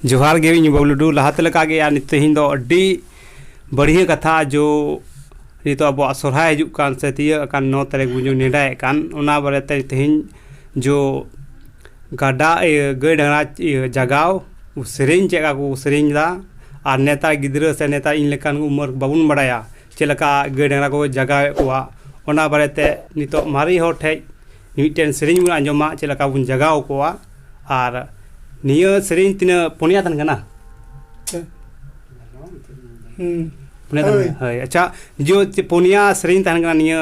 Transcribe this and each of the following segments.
ᱡᱚᱦᱟᱨ ᱜᱮ ᱤᱧ ᱵᱟᱹᱵᱽᱞᱩ ᱴᱩᱰᱩ ᱞᱟᱦᱟᱛᱮ ᱞᱮᱠᱟᱜᱮ ᱟᱨ ᱛᱮᱦᱮᱧ ᱫᱚ ᱟᱹᱰᱤ ᱵᱟᱹᱲᱦᱤᱭᱟᱹ ᱠᱟᱛᱷᱟ ᱡᱳ ᱱᱤᱛᱚᱜ ᱟᱵᱚᱣᱟᱜ ᱥᱚᱨᱦᱟᱭ ᱦᱤᱡᱩᱜ ᱠᱟᱱ ᱥᱮ ᱛᱤᱭᱟᱹᱜ ᱟᱠᱟᱱ ᱱᱚ ᱛᱟᱹᱨᱤᱠᱷ ᱵᱚᱱ ᱱᱮᱰᱟᱭᱮᱫ ᱠᱟᱱ ᱚᱱᱟ ᱵᱟᱨᱮᱛᱮ ᱛᱮᱦᱮᱧ ᱡᱳ ᱜᱟᱰᱟ ᱤᱭᱟᱹ ᱜᱟᱹᱭ ᱰᱟᱝᱨᱟ ᱤᱭᱟᱹ ᱡᱟᱜᱟᱣ ᱥᱮᱨᱮᱧ ᱪᱮᱫ ᱞᱮᱠᱟ ᱠᱚ ᱥᱮᱨᱮᱧ ᱮᱫᱟ ᱟᱨ ᱱᱮᱛᱟᱨ ᱜᱤᱫᱽᱨᱟᱹ ᱥᱮ ᱱᱮᱛᱟᱨ ᱤᱧ ᱞᱮᱠᱟᱱ ᱩᱢᱟᱹᱨ ᱵᱟᱵᱚᱱ ᱵᱟᱲᱟᱭᱟ ᱪᱮᱫ ᱞᱮᱠᱟ ᱜᱟᱹᱭ ᱰᱟᱝᱨᱟ ᱠᱚ ᱡᱟᱜᱟᱣᱮᱫ ᱠᱚᱣᱟ ᱚᱱᱟ ᱵᱟᱨᱮᱛᱮ ᱱᱤᱛᱚᱜ ᱢᱟᱨᱮ ᱦᱚᱲ ᱴᱷᱮᱱ ᱢᱤᱫᱴᱮᱱ ᱥᱮᱨᱮᱧ ᱵᱚᱱ ᱟᱸᱡᱚᱢᱟ ᱪᱮᱫ ᱞᱮᱠᱟ ᱵᱚᱱ ᱡᱟᱜᱟᱣ ᱠᱚᱣᱟ ᱟᱨ ᱱᱤᱭᱟᱹ ᱥᱮᱨᱮᱧ ᱛᱤᱱᱟᱹᱜ ᱯᱩᱱᱭᱟ ᱛᱟᱦᱮᱱ ᱠᱟᱱᱟ ᱯᱩᱱᱭᱟ ᱛᱟᱦᱮᱱ ᱠᱟᱱᱟ ᱦᱳᱭ ᱟᱪᱪᱷᱟ ᱡᱳ ᱯᱩᱱᱭᱟ ᱥᱮᱨᱮᱧ ᱛᱟᱦᱮᱱ ᱠᱟᱱᱟ ᱱᱤᱭᱟᱹ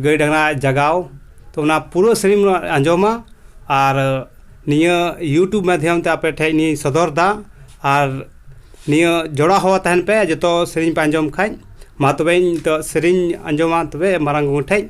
ᱜᱟᱹᱭ ᱰᱟᱝᱨᱟ ᱡᱟᱜᱟᱣ ᱛᱚ ᱚᱱᱟ ᱯᱩᱨᱟᱹ ᱥᱮᱨᱮᱧ ᱵᱚᱱ ᱟᱸᱡᱚᱢᱟ ᱟᱨ ᱱᱤᱭᱟᱹ ᱤᱭᱩᱴᱩᱵᱽ ᱢᱟᱫᱽᱫᱷᱚᱢ ᱛᱮ ᱟᱯᱮ ᱴᱷᱮᱱ ᱤᱧ ᱥᱚᱫᱚᱨ ᱮᱫᱟ ᱟᱨ ᱱᱤᱭᱟᱹ ᱡᱚᱲᱟᱣ ᱦᱚᱸ ᱛᱟᱦᱮᱱ ᱯᱮ ᱡᱚᱛᱚ ᱥᱮᱨᱮᱧ ᱯᱮ ᱟᱸᱡᱚᱢ ᱠᱷᱟᱱ ᱢᱟ ᱛᱚᱵᱮ ᱤᱧ ᱱᱤᱛᱚᱜ ᱥᱮᱨᱮᱧ ᱟᱸᱡᱚᱢᱟ ᱛᱚᱵᱮ ᱢᱟᱨᱟᱝ ᱵᱩᱨᱩ ᱴᱷᱮᱱ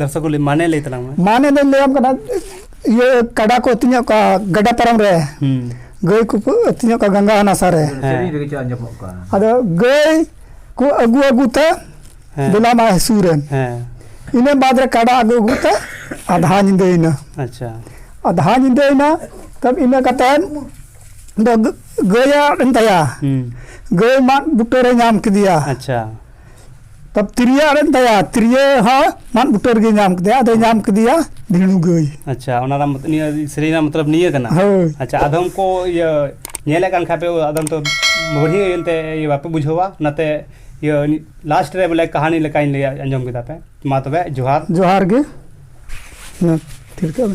ᱫᱚᱨᱥᱚᱠᱩᱞᱤ ᱢᱟᱱᱮ ᱞᱟᱹᱭ ᱛᱟᱞᱟᱝ ᱢᱮ ᱢᱟᱱᱮ ᱫᱚᱧ ᱞᱟᱹᱭᱟᱢ ᱠᱟᱱᱟ ᱤᱭᱟᱹ ᱠᱟᱰᱟ ᱠᱚ ᱟᱹᱛᱤᱧᱟ ᱚᱠᱟ ᱜᱟᱰᱟ ᱯᱟᱨᱚᱢ ᱨᱮ ᱜᱟᱹᱭ ᱠᱚ ᱟᱹᱛᱤᱧᱟ ᱚᱠᱟ ᱜᱟᱝᱜᱟ ᱦᱟᱱᱟ ᱥᱟᱨᱮ ᱟᱫᱚ ᱜᱟᱹᱭ ᱠᱚ ᱟᱹᱜᱩ ᱟᱹᱜᱩ ᱛᱮ ᱵᱮᱞᱟ ᱢᱟ ᱦᱟᱹᱥᱩ ᱨᱮ ᱤᱱᱟᱹ ᱵᱟᱫ ᱨᱮ ᱠᱟᱰᱟ ᱟᱹᱜᱩ ᱟᱹᱜᱩ ᱛᱮ ᱟᱫᱷᱟ ᱧᱤᱫᱟᱹᱭᱮᱱᱟ ᱟᱪᱪᱷᱟ ᱟᱫᱷᱟ ᱧᱤᱫᱟᱹᱭᱮᱱᱟ ᱛᱟᱵ ᱤᱱᱟᱹ ᱠᱟᱛᱮ ᱫᱚ ᱜᱟᱹᱭᱟᱜ ᱮᱱ ᱛᱟᱭᱟ ᱜᱟᱹᱭ ᱢᱟᱫ ᱵᱩᱴᱟᱹᱨᱮ ᱧᱟᱢ ᱠᱮᱫᱮᱭᱟ ᱟᱪᱪᱷᱟ ᱛᱚ ᱛᱤᱨᱭᱟᱹ ᱟᱲᱮᱢ ᱛᱟᱭᱟ ᱛᱤᱨᱭᱟᱹ ᱦᱚᱸ ᱢᱟᱫ ᱵᱩᱴᱟᱹ ᱨᱮᱜᱮ ᱧᱟᱢ ᱠᱮᱫᱮᱭᱟ ᱟᱫᱚᱭ ᱧᱟᱢ ᱠᱮᱫᱮᱭᱟ ᱵᱷᱤᱲᱩ ᱜᱟᱹᱭ ᱟᱪᱪᱷᱟ ᱚᱱᱟ ᱨᱮᱱᱟᱜ ᱢᱚᱛ- ᱱᱤᱭᱟᱹ ᱥᱮᱨᱮᱧ ᱨᱮᱱᱟᱜ ᱢᱚᱛᱞᱚᱵ ᱱᱤᱭᱟᱹ ᱠᱟᱱᱟ ᱦᱳᱭ ᱟᱪᱪᱷᱟ ᱟᱫᱚᱢ ᱠᱚ ᱤᱭᱟᱹ ᱧᱮᱞᱮᱫ ᱠᱟᱱ ᱠᱷᱟᱡ ᱯᱮ ᱟᱫᱚᱢ ᱛᱚ ᱵᱟᱹᱲᱦᱤ ᱮᱱᱛᱮ ᱤᱭᱟᱹ ᱵᱟᱯᱮ ᱵᱩᱡᱷᱟᱹᱣᱟ ᱚᱱᱟᱛᱮ ᱤᱭᱟᱹ ᱞᱟᱥᱴ ᱨᱮ ᱵᱚᱞᱮ ᱠᱟᱹᱦᱱᱤ ᱞᱮᱠᱟᱧ ᱞᱟᱹᱭ ᱟᱸᱡᱚᱢ ᱠᱮᱫᱟ ᱯᱮ ᱢᱟ ᱛᱚᱵᱮ ᱡᱚᱦᱟᱨ ᱡᱚᱦᱟᱨ ᱜᱮ ᱢᱟ ᱛᱷᱤᱨ ᱠᱟᱜ ᱢᱮ